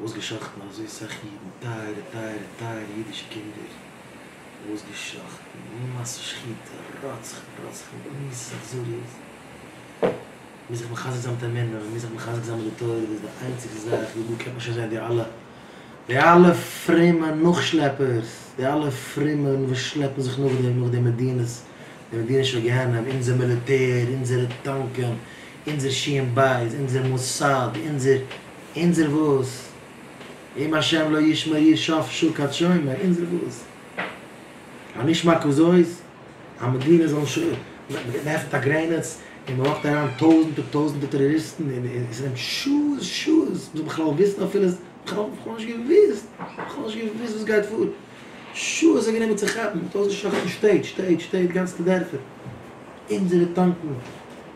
אויסגעשאכטן אזוי סאך אידן, טייערע טייערע טייערע אידישע קינדער, אויסגעשאכטן אין מעשי שחיטה, רוצחים רוצחים במישא אכזריות, מ'מוז זיך מחזק זיין מיט אמונה, מ'מוז זיך מחזק זיין מיט די תורה, דאס איז די איינציגסטע זאך, ווי דא קען מען שוין זען די אלע די אלע פרומע נאכשלעפערס, די אלע פרומע וואס שלעפן זיך נאך דעם נאך די מדינות, די מדינישע גיהנום, אונזער מיליטער, אונזערע טאנקען. אונזער שיעם בית, אונזער מוסד, אונזער, אונזער וואס? אם השם לא ישמור איר שאף שוקעת שומר, אונזער וואס? א נשמע כזאת? א מדינה זאל נישט אויף, מען עפענט א גרעניץ און מען לאכט אריין טויזענטער טויזענטער טעראריסטן און און ס'נעמט שעות שעות ביז בכלל וויסן אפילו, בכלל בכלל נישט געוויסט, בכלל נישט געוויסט וואס גייט פאר, שעות האט גענומען צו כאפן, מ'האט אויסגעשלאכטן שטעט, שטעט, שטעט, גאנצעטע דערפער, אונזערע טאנקן.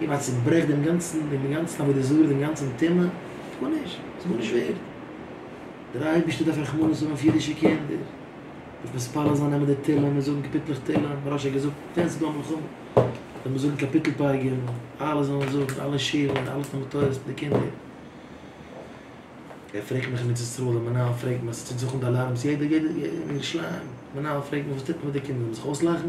איר ווייט צוברעכט דעם גאנצן דעם גאנצן עבודה זרה דעם גאנצן טומאה, טאר נישט, ס'איז גארנישט ווערד, דער אייבערשטער דארף רחמנות האבן אויף אידישע קינדער, דארף מתפלל זיין נעמען די תהלים און זאגן קאפיטלעך תהלים, מוהראש האט געזאגט ווען ס'איז דא א מלחמה זאל מען זאגן קאפיטל פרגון, אלע זאלן זאגן, אלע שילן, אלע תלמוד תורה'ס מיט די קינדער. ער פרעגט מיך מיט ישראל, דער מנהל פרעגט מיך, ס'טוט זיך אן די אלארמס יעדע יעדע מינוט שלאגן, מנהל פרעגט מיך וואס טוט מען מיט די קינדער, זאל מען זיך אויסלאכן?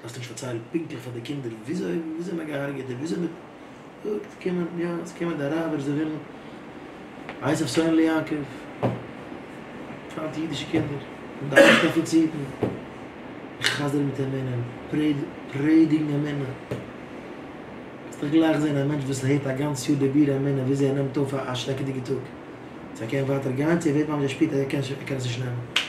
דארפסט נישט פארציילן פונקטליך פאר די קינדער וויאזוי וויאזוי מען געהארגעט און וויאזוי מען זאגט קומען יא עס קומען די אראבער זיי ווילן הייסן אויף סוהעלע יעקב היינט אידישע קינדער און די אלע דעפיציטן חזר'ן מיט אמונה און פרעדיגן אמונה קענסט דאך גלייך זען א מענטש וואס הערט א גאנץ יאר די בירור אמונה וויאזוי ער נעמט אויף א שרעקעדיגע טאג צו ער קען ווייטער גיין צו ער ווערט ממש ער שפירט אז ער קען עס נישט נעמען.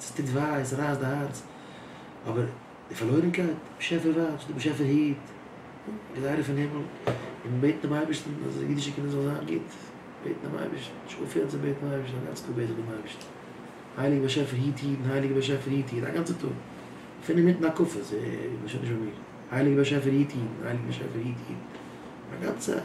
ס'טוט וויי, ס'רייסט די הארץ, אבער די פארלוירענקייט, באשעפער ווייב, די באשעפער היט, געזיידע פון הימל, און בעטן דעם אייבערשטן אז די אידישע קינדער זאלן זיין גוט, בעטן דעם אייבערשטן, זיך אנפירן צום בעטן דעם אייבערשטן, א גאנץ טאג בעט איך דעם אייבערשטן, הייליגער באשעפער היט אידן, הייליגער באשעפער היט אידן, א גאנצע טאג, אפילו אינמיטן הקפות, ס'איז שוין נישט ביי מיר, הייליגער באשעפער היט אידן, הייליגער באשעפער היט אידן, א גאנצע צייט.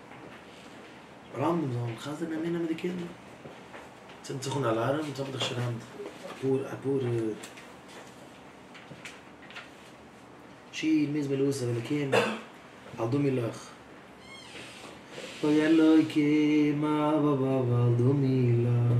רמבם זאל חזר'ן אמונה מיט די קינדער. צינדט זיך אן אלארעם, יעצט האב איך דאך שוין היינט אפאר אפאר שיר מזמור לעשרת אלוקים, אל דמי לך. אוי אלוקים אבא ואבא אל דמי לך.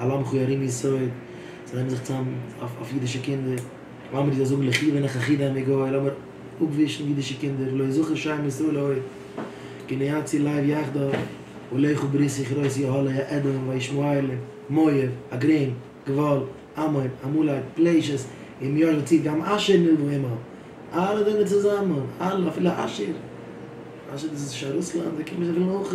אל עמך ירים יסוד, זיי נעמען זיך צוזאם אויף אידישע קינדער, לאמיר דיר זאגן לכי ונך אחי דיין מגוי, לאמיר אפווישן אידישע קינדער, לא יזכר שם ישראל עוד, גניאצי לייב יחדיו, ולכו ברית יכרות יהלוי האדום וישמעאלים, מואב, הגרים, גבול, עמון, עמלק, פלשת, אם יאר וצית גם אשר נלוו עמם, אלע זענען צוזאמען, אלע אפילו אשר, אשר דאס איז שוין רוסלאנד, זיי קומען זיי ווילן אויך,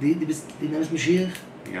די די ביסט די נעמסט משיח? יא.